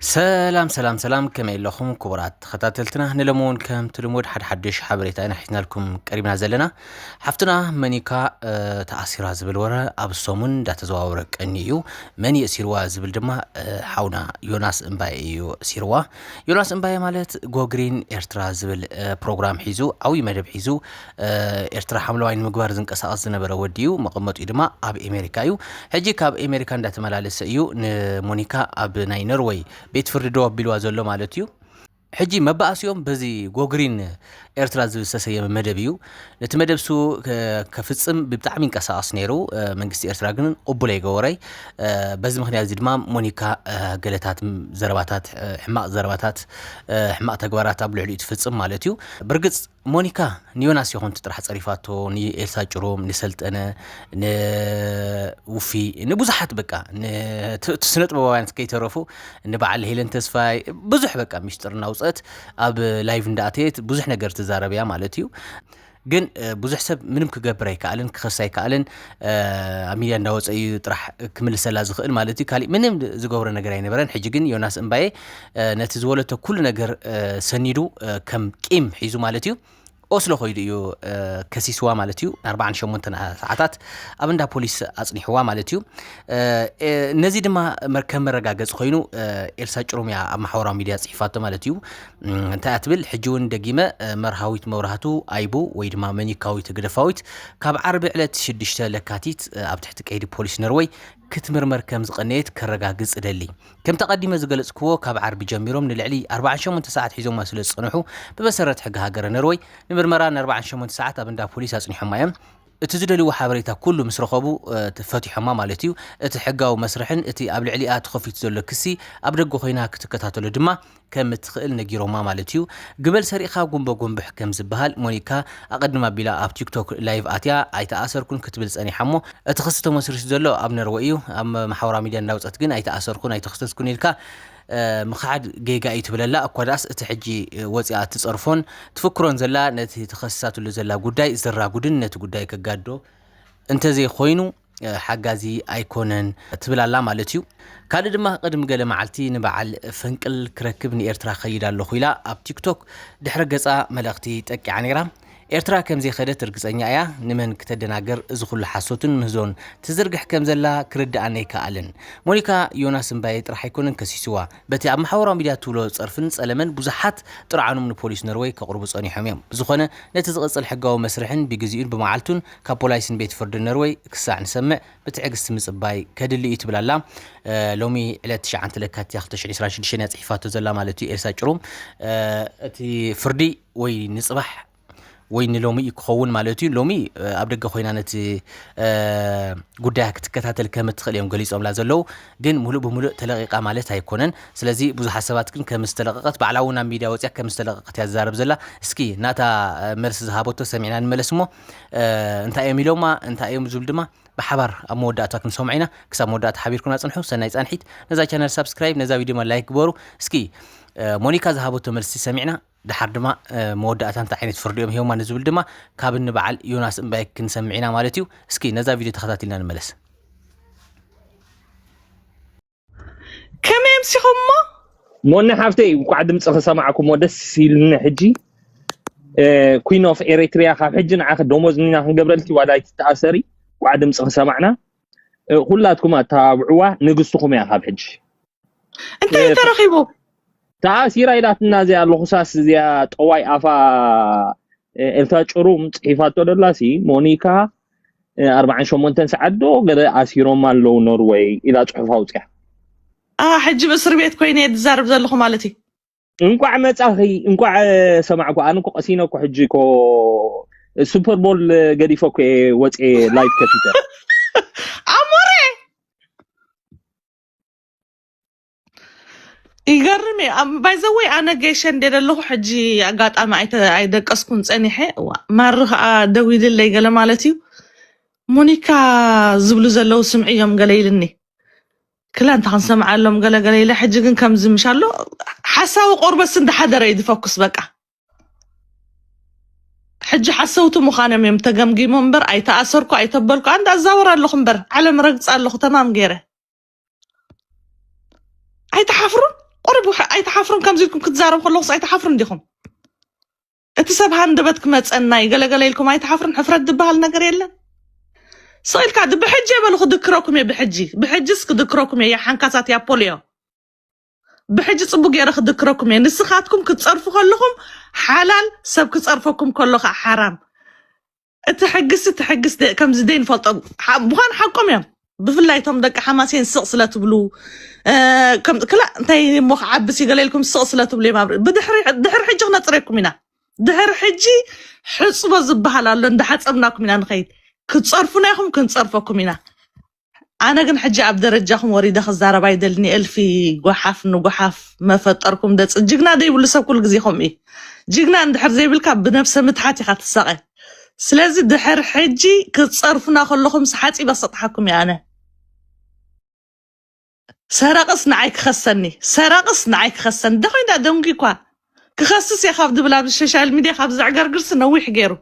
ሰላም ሰላም ሰላም ከመይ ኣለኹም ክቡራት ተኸታተልትና ንሎሚ እውን ከምቲ ልሙድ ሓደ ሓድሽ ሓበሬታ ኢና ሒዝናልኩም ቀሪብና ዘለና ሓፍትና መኒካ ተኣሲራ ዝብል ወረ ኣብ ሰሙን እንዳተዘዋወረ ቀኒ እዩ መን የእሲርዋ ዝብል ድማ ሓውና ዮናስ እምባየ እዩ እሲርዋ ዮናስ እምባየ ማለት ጎግሪን ኤርትራ ዝብል ፕሮግራም ሒዙ ዓብዪ መደብ ሒዙ ኤርትራ ሓምለዋይ ንምግባር ዝንቀሳቐስ ዝነበረ ወዲ እዩ። መቐመጢኡ ድማ ኣብ ኤሜሪካ እዩ። ሕጂ ካብ ኤሜሪካ እንዳተመላለሰ እዩ ንሞኒካ ኣብ ናይ ኖርወይ ቤት ፍርዲ ደው ኣቢልዋ ዘሎ ማለት እዩ። ሕጂ መባእሲኦም በዚ ጎግሪን ኤርትራ ዝብል ዝተሰየመ መደብ እዩ። ነቲ መደብ ሱ ከፍጽም ብጣዕሚ ይንቀሳቐስ ነይሩ። መንግስቲ ኤርትራ ግን ቅቡል ኣይገበሮይ። በዚ ምክንያት እዚ ድማ ሞኒካ ገለታት ዘረባታት ሕማቕ ዘረባታት ሕማቕ ተግባራት ኣብ ልዕሊኡ ትፍጽም ማለት እዩ። ብርግጽ ሞኒካ ንዮናስ ይኹንት ጥራሕ ጸሪፋቶ ንኤልሳ ጭሩም ንሰልጠነ ንውፊ ንብዙሓት በቃ ስነ ጥበባውያንት ከይተረፉ ንበዓል ሄለን ተስፋይ ብዙሕ በቃ ሚስጥር እናውፀት ኣብ ላይቭ እንዳእተየት ብዙሕ ነገር ትዛረብ እያ ማለት እዩ ግን ብዙሕ ሰብ ምንም ክገብር ኣይከኣልን ክኸስ ኣይከኣልን ኣብ ሚድያ እንዳወፀ እዩ ጥራሕ ክምልሰላ ዝኽእል ማለት እዩ ካሊእ ምንም ዝገብሮ ነገር ኣይነበረን ሕጂ ግን ዮናስ እምባዬ ነቲ ዝወለቶ ኩሉ ነገር ሰኒዱ ከም ቂም ሒዙ ማለት እዩ ኦስሎ ኮይዱ እዩ ከሲስዋ ማለት እዩ ን48 ሰዓታት ኣብ እንዳ ፖሊስ ኣፅኒሕዋ ማለት እዩ ነዚ ድማ ከም መረጋገፂ ኮይኑ ኤልሳ ጭሩም እያ ኣብ ማሕበራዊ ሚድያ ፅሒፋቶ ማለት እዩ እንታይ እያ ትብል ሕጂ እውን ደጊመ መርሃዊት መብራህቱ ኣይቡ ወይ ድማ መኒካዊት ግደፋዊት ካብ ዓርቢ ዕለት 6 ለካቲት ኣብ ትሕቲ ቀይዲ ፖሊስ ነርወይ ክትምርመር ከም ዝቐነየት ከረጋግፅ እደሊ ከምቲ ኣቐዲመ ዝገለጽክዎ ካብ ዓርቢ ጀሚሮም ንልዕሊ ኣርብዓን ሸሞንተ ሰዓት ሒዞማ ስለ ዝጸንሑ ብመሰረት ሕጊ ሃገረ ነርወይ ንምርመራ ንኣርብዓን ሸሞንተ ሰዓት ኣብ እንዳ ፖሊስ ኣጽኒሖማ እዮም። እቲ ዝደልይዎ ሓበሬታ ኩሉ ምስ ረኸቡ ፈቲሖማ ማለት እዩ። እቲ ሕጋዊ መስርሕን እቲ ኣብ ልዕሊኣ ተኸፊቱ ዘሎ ክሲ ኣብ ደገ ኮይና ክትከታተሎ ድማ ከም እትኽእል ነጊሮማ ማለት እዩ። ግበል ሰሪቕኻ ጉምቦ ጎምብሕ ከም ዝበሃል ሞኒካ ኣቐድም ኣቢላ ኣብ ቲክቶክ ላይቭ ኣትያ ኣይተኣሰርኩን ክትብል ጸኒሓ እሞ እቲ ክሲ ተመስሪቱ ዘሎ ኣብ ነርወይ እዩ ኣብ ማሕበራዊ ሚድያ እንዳውጸት ግን ኣይተኣሰርኩን ኣይተኸሰስኩን ኢልካ ምኽሓድ ጌጋ እዩ ትብል ኣላ እኳ ደኣስ እቲ ሕጂ ወጺኣ እትጸርፎን ትፍክሮን ዘላ ነቲ ተኸሲሳትሉ ዘላ ጉዳይ ዘራጉድን ነቲ ጉዳይ ከጋድዶ እንተዘይኮይኑ ሓጋዚ ኣይኮነን ትብል ኣላ ማለት እዩ ካልእ ድማ ቅድሚ ገለ መዓልቲ ንበዓል ፈንቅል ክረክብ ንኤርትራ ከይድ ኣለኹ ኢላ ኣብ ቲክቶክ ድሕረ ገጻ መልእኽቲ ጠቂዓ ነይራ ኤርትራ ከም ዘይኸደት ርግጸኛ እያ ንመን ክተደናግር እዚ ኩሉ ሓሶትን ምህዞን ትዝርግሕ ከም ዘላ ክርድኣኒ ኣይከኣልን ሞኒካ ዮናስ እምባየ ጥራሕ ኣይኮነን ከሲስዋ በቲ ኣብ ማሕበራዊ ሚድያ ትብሎ ጸርፍን ጸለመን ብዙሓት ጥርዓኖም ንፖሊስ ኖርወይ ከቕርቡ ጸኒሖም እዮም ብዝኾነ ነቲ ዝቕጽል ሕጋዊ መስርሕን ብግዜኡን ብመዓልቱን ካብ ፖላይስን ቤት ፍርድን ነርወይ ክሳዕ ንሰምዕ ብትዕግስቲ ምጽባይ ከድሊ እዩ ትብል ኣላ። ሎሚ ዕለት ትሽዓንተ ለካቲት እያ ክልተ ሽሕን ዕስራን ሽዱሽተን እያ ጽሒፋቶ ዘላ ማለት እዩ ኤልሳ ጭሩም። እቲ ፍርዲ ወይ ንጽባሕ ወይ ንሎሚ እዩ ክኸውን ማለት እዩ። ሎሚ ኣብ ደገ ኮይና ነቲ ጉዳያ ክትከታተል ከም እትኽእል እዮም ገሊጾምላ ዘለዉ። ግን ሙሉእ ብሙሉእ ተለቒቓ ማለት ኣይኮነን። ስለዚ ብዙሓት ሰባት ግን ከም ዝተለቐቐት ባዕላ እውን ኣብ ሚድያ ወጺኣ ከም ዝተለቐቐት እያ ትዛረብ ዘላ። እስኪ ናታ መልሲ ዝሃበቶ ሰሚዕና ንመለስ እሞ እንታይ እዮም ኢሎማ እንታይ እዮም ዝብል ድማ ብሓባር ኣብ መወዳእታ ክንሰምዖ ኢና ክሳብ መወዳእታ ሓቢርኩና ፅንሑ ሰናይ ፃንሒት ነዛ ቻነል ሳብስክራይብ ነዛ ቪድዮ ድማ ላይክ ግበሩ እስኪ ሞኒካ ዝሃበቶ መልሲ ሰሚዕና ድሓር ድማ መወዳእታ እንታይ ዓይነት ፍርዲ እዮም ሂቦማ ንዝብል ድማ ካብ ንበዓል ዮናስ እምባይ ክንሰምዕ ኢና ማለት እዩ እስኪ ነዛ ቪድዮ ተኸታቲልና ንመለስ ከመይ ኣምሲኹሞ ሞኒ ሓፍተይ እንኳዕ ድምፂ ክሰማዕኩሞ ደስ ኢሉኒ ሕጂ ኩን ኦፍ ኤሪትሪያ ካብ ሕጂ ንዓኺ ደሞዝ ኒና ክንገብረልኪ ዋላ ኣይትተኣሰሪ እንኳዕ ድምፂ ክሰማዕና ኩላትኩም ኣተባብዕዋ ንግስትኹም እያ ካብ ሕጂ እንታይ እዩ ተረኺቡ ተኣሲራ ኢላትና እዚኣ ልኹሳስ እዚኣ ጠዋይ ኣፋ ኤልሳ ጭሩም ፅሒፋቶ ደላሲ ሞኒካ ኣርባዓን ሸሞንተን ሰዓት ዶ ገለ ኣሲሮማ ኣለዉ ኖርወይ ኢላ ፅሑፍ ኣውፅያ ኣ ሕጂ እስር ቤት ኮይነ እየ ዝዛረብ ዘለኹ ማለት እዩ እንቋዕ መጻኺ እንቋዕ ሰማዕኩ ኣነ እኮ ቀሲነ እኮ ሕጂ እኮ ሱፐር ቦል ገዲፈ እኮ እየ ወፀ ላይፍ ከፊተ ኣሞረ ይገርም እዩ ኣብ- ባይዘወይ ኣነ ጌሸ እንደ ዘለኹ ሕጂ ኣጋጣሚ ኣይተ ኣይደቀስኩን ፀኒሐ እዋ፣ ማሪ ከዓ ደዊልለይ ገለ ማለት እዩ ሞኒካ ዝብሉ ዘለው ስምዒ እዮም ገለ ኢልኒ ክላ እንታ ክንሰምዓሎም ገለ ገለ ኢለ ሕጂ ግን ከምዚ ምሽ ኣሎ ሓሳዊ ቆርበስ እንዳሓደረ እዩ ዝፈኩስ በቃ ሕጂ ሓሰውቲ ምዃኖም እዮም ተገምጊሞም እምበር ኣይተኣሰርኩ ኣይተበልኩ ኣንድ ኣዛወር ኣለኹ እምበር ዓለም ረግፃ ኣለኹ ተማም ገይረ ኣይትሓፍሩን ቁርብ ኣይትሓፍሩን ከምዚ ኢልኩም ክትዛረብ ከለኹስ ኣይትሓፍሩን ዲኹም እቲ ሰብ ሃንደበት ክመፀና እዩ ገለገለ ኢልኩም ኣይትሓፍሩን ሕፍረት ዝበሃል ነገር የለን ስኢልካ ድ ብሕጂ የበሉ ክድክረኩም እየ ብሕጂ ብሕጂስ ክድክረኩም እየ ያ ሓንካሳት ያ ፖልዮ ብሕጂ ፅቡቅ ገይረ ክድክረኩም እየ ንስኻትኩም ክትፀርፉ ከለኹም ሓላል ሰብ ክፀርፈኩም ከሎ ከዓ ሓራም እቲ ሕግስ እቲ ሕግስ ደ- ከምዚ ዘይንፈልጦ ሓ- ምዃን ሓቆም እዮም ብፍላይ እቶም ደቂ ሓማሴን ስቕ ስለ ትብሉ እ፣ ከም ክላ እንታይ እሞ ክዓብስ ይገለልኩም ስቕ ስለ ትብሉ እዮም ኣብ ር- ብድሕሪ ድሕሪ ሕጂ ክነፅረኩም ኢና ድሕሪ ሕጂ ሕፅቦ ዝበሃል ኣሎ እንዳሓፀብናኩም ኢና ንኸይድ ክትፀርፉና ኢኹም ክንፀርፈኩም ኢና ኣነ ግን ሕጂ ኣብ ደረጃኹም ወሪደ ክዛረብ ኣይደልን የእልፊ ጓሓፍ ንጓሓፍ መፈጠርኩም ደጽ ጅግና ደይብሉ ሰብ ኩሉ ግዜ ከምኡ እዩ ጅግና እንድሕር ዘይብልካ ብነብሰ ምትሓት ኢኻ ትሳቐ ስለዚ ድሕር ሕጂ ክትጸርፉና ከለኹም ሓጺበ ክሰጥሓኩም እየ ኣነ ሰረቕስ ንዓይ ክኸሰኒ ሰረቕስ ንዓይ ክኸሰኒ ደኾይዳ ደንጉ እኳ ክኸስስ እየ ካብ ድብል ኣብ ሶሻል ሚድያ ካብ ዘዕገርግርሲ ነዊሕ ገይሩ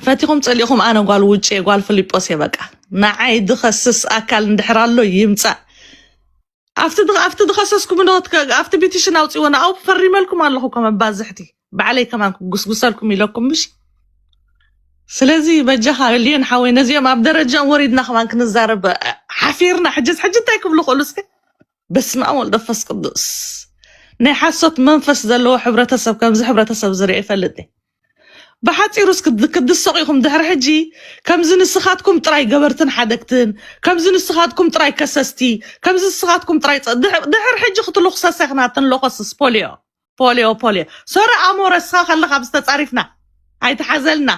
ፈቲኹም ፀሊእኹም ኣነ ጓል ውጭ እየ ጓል ፍሊጶስ እየ በቃ ንዓይ ድኸስስ ኣካል እንድሕር ኣሎ ይምፃእ ኣብቲ ድ- ኣብቲ ድኸሰስኩም ዶ ኣብቲ ቢቲሽን ኣውፅዎ ንኣው ፈሪመልኩም ኣለኹ እኮ መባዝሕቲ ባዕለይ ከማን ክጉስጉሰልኩም ኢለኩም ምሽ ስለዚ በጃኻ ልዮን ሓወይ ነዚኦም ኣብ ደረጃኦም ወሪድና ከማን ክንዛረብ አ- ሓፊርና ሕጅስ ሕጂ እንታይ ክብሉ ክእሉ እስከ በስመ ኣብ ወልድ መንፈስ ቅዱስ ናይ ሓሶት መንፈስ ዘለዎ ሕብረተሰብ ከምዚ ሕብረተሰብ ዝርአ ይፈልጥ እየ። ብሓፂሩ እስኪ ክድሰቑ ኢኹም ድሕሪ ሕጂ ከምዚ ንስኻትኩም ጥራይ ገበርትን ሓደግትን ከምዚ ንስኻትኩም ጥራይ ከሰስቲ ከምዚ ንስኻትኩም ጥራይ ፀ- ድሕ- ድሕሪ ሕጂ ክትልኹሰሰ ኢኽና ትንለኾስስ ፖሊዮ ፖሊዮ ፖሊዮ ሶረ ኣሞረ እስኻ ከለኻ ምስ ተፃሪፍና ኣይትሓዘልና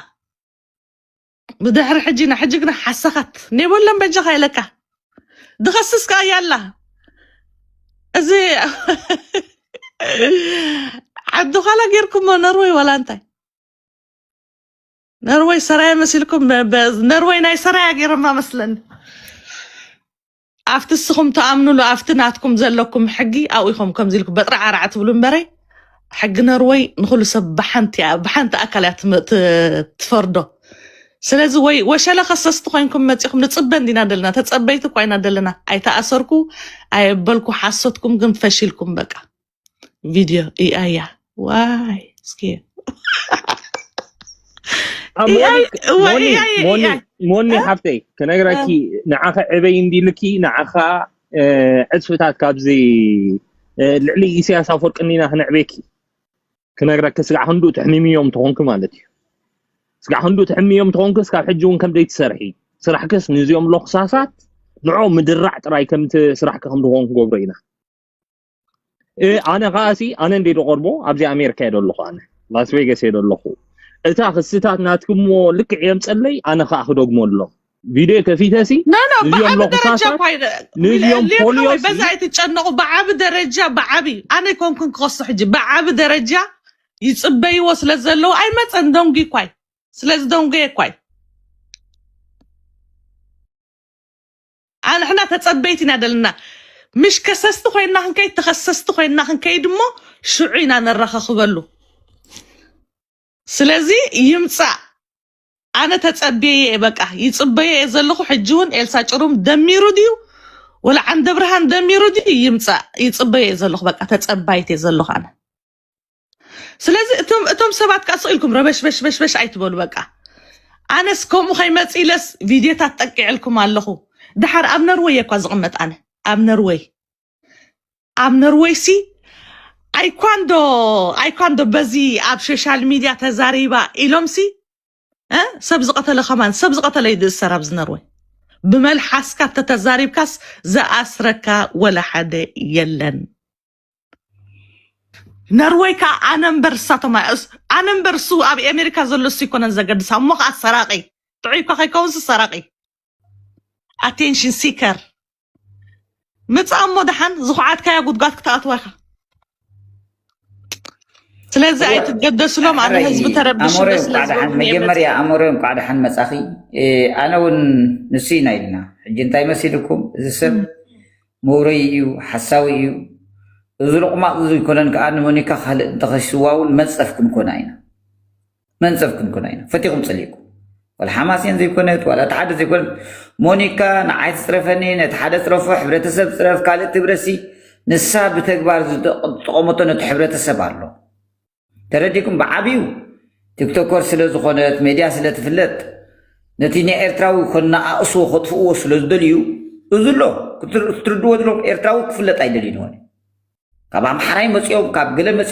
ብድሕሪ ሕጂ ንሕጂ ግና ሓሰኻት ኔበሎም በጃኻ ኢለካ ድኸስስ ከዓ ያላ እዚ ዓዲ ኋላ ጌርኩሞ ነርወይ ዋላ እንታይ ነርወይ ሰራየ መሲልኩም በ- ነርወይ ናይ ሰራያ ጌረማ መስለኒ ኣብቲ እስኹም ትኣምኑሉ ኣብቲ ናትኩም ዘለኩም ሕጊ ኣብኡ ኢኹም ከምዚ ኢልኩም በጥራዕ ኣራዕ ትብሉ እምበረይ ሕጊ ኖርወይ ንኩሉ ሰብ ብሓንቲ እያ ብሓንቲ ኣካል እያ ትም- ት- ትፈርዶ ስለዚ ወይ ወሸለ ከሰስቲ ኮይንኩም መፂኹም ንፅበ እንዲና ደለና ተፀበይቲ እኳ ኢና ደለና ኣይተኣሰርኩ ኣየበልኩ ሓሶትኩም ግን ፈሽልኩም በቃ video AI ya. Why? Scared. ኣብ ሞኒ AI why ሞኒ AI ሞኒ AI? ሞኒ Huh? ሓፍተይ ክነግራኪ Uh, ንዓኸ ዕበይ እንዲልኪ ንዓኻ እ፣ ዕፅፍታት ካብዚ እ፣ ልዕሊ ኢሳያስ ኣፈወርቂ እኒና ክነዕቤኪ ክነግራኪ ስጋዕ ክንዱ ትሕሚምዮም ተኾንኪ ማለት እዩ ስጋዕ ክንዱ ትሕሚዮም ተኾንኪ እስካብ ሕጂ እውን ከምደይ ትሰርሒ ስራሕክስ ንዚኦም ሎክሳሳት ንዕኦም ምድራዕ ጥራይ ከምቲ ስራሕኪ ከም ዝኾን ክገብሮ ኢና ኣነ ከዓ ሲ ኣነ እንዴ ዝቀርቦ ኣብዚ ኣሜሪካ እየ ዘለኹ ኣነ ላስ ቬጋስ እየ ዘለኹ እታ ክስታት ናትክሞ ልክዕ የምፀለይ ኣነ ከዓ ክደግመሎም ቪድዮ ከፊተ ሲ ኖ ኖ ንዚኦም ብዓቢ ለኹ ደረጃ ሳሳት እኳ ይደ- ንዚኦም ሌም ፖሊዮ ሓወይ ሲ በዛ ኣይትጨነቑ ብዓቢ ደረጃ ብዓቢ ኣነ ኮንኩን ክኸሶ ሕጂ ብዓቢ ደረጃ ይፅበይዎ ስለ ዘለዉ ኣይመፀን ደንጉ እኳይ ስለዚ ደንጎየ እኳይ ኣንሕና ተጸበይቲ ኢና ደለና ምሽ ከሰስቲ ኮይንና ክንከይድ ተኸሰስቲ ኮይንና ክንከይድ እሞ ሽዑ ኢና ነራኻኽበሉ ስለዚ ይምጻእ ኣነ ተጸብየ እየ በቃ ይጽበዮ እየ ዘለኹ ሕጂ እውን ኤልሳ ጭሩም ደሚሩ ድዩ ወላ ዓንደብርሃን ደሚሩ ድዩ ይምጻእ ይጽበዮ እየ ዘለኹ በቃ ተጸባይት እየ ዘለኹ ኣነ ስለዚ እቶም እቶም ሰባት ከዓ ስቕ ኢልኩም ረበሽበሽበሽበሽ ኣይትበሉ በቃ ኣነስ ከምኡ ከይመፅ ኢለስ ቪድዮታት ጠቂዐልኩም ኣለኹ ድሓር ኣብ ነርወይ እኳ ዝቕመጥ ኣነ ኣብ ነርወይ ኣብ ነርወይ ሲ ኣይኳንዶ ኣይኳንዶ በዚ ኣብ ሶሻል ሚድያ ተዛሪባ ኢሎም ሲ እ? ሰብ ዝቐተለ ከማን ሰብ ዝቐተለ እዩ ዝእሰር ኣብዚ ነርወይ ብመልሓስካ ተተዛሪብካስ ዝኣስረካ ወላ ሓደ የለን ነርወይ ከዓ ኣነ እምበር እሳቶም ኣይዕስ ኣነ እምበር እሱ ኣብ ኣሜሪካ ዘሎ እሱ ይኮነን ዘገድስ እሞ ከዓ ሰራቂ ጥዑይ እኳ ከይከውንስ ሰራቂ ኣቴንሽን ሲከር ምፃ እሞ ድሓን ዝኹዓትካያ ጉድጓድ ክትኣትዋ ኢኻ ስለዚ እዋ ኣይትገደስሎም ኣነ ሕራይ ህዝቢ ተረብሽ ኣሞሬ እንዶ ስለ እንቋዕ ደሓን ዝበልኩ እየ መፂኣ መጀመርያ ኣሞሬ እንቋዕ ደሓን መጻኺ እ፣ ኣነ እውን ንሱ ኢና ኢልና ሕጂ እንታይ መሲልኩም እዚ ሰብ ምሁረይ እዩ ሓሳዊ እዩ እዚ ሎቕማቕ እዚ ኮነን ከዓ ንሞኒካ ካልእ እንተኸሽዋ እውን መንፀፍ ክንኮና ኢና መንፀፍ ክንኮና ኢና ፈቲኹም ፀሊእኩም ዋላ ሓማሴን ዘይኮነት ዋላ እቲ ሓደ ዘይኮነት ሞኒካ ንዓይ ትፅረፈኒ ነቲ ሓደ ፅረፎ ሕብረተሰብ ፅረፍ ካልእ ትብረሲ ንሳ ብተግባር ዝጠቐመቶ ነቲ ሕብረተሰብ ኣሎ ተረዲኩም ብዓብዩ ቲክቶከር ስለ ዝኾነት ሜድያ ስለ ትፍለጥ ነቲ ናይ ኤርትራዊ ከነኣእሶ ከጥፍእዎ ስለ ዝደልዩ እዚ ኣሎ ክትርድዎ ዘለኹም ኤርትራዊ ክፍለጥ ኣይደልዩን ይኾነ ካብ ኣምሓራይ መፂኦም ካብ ገለ መፂኦም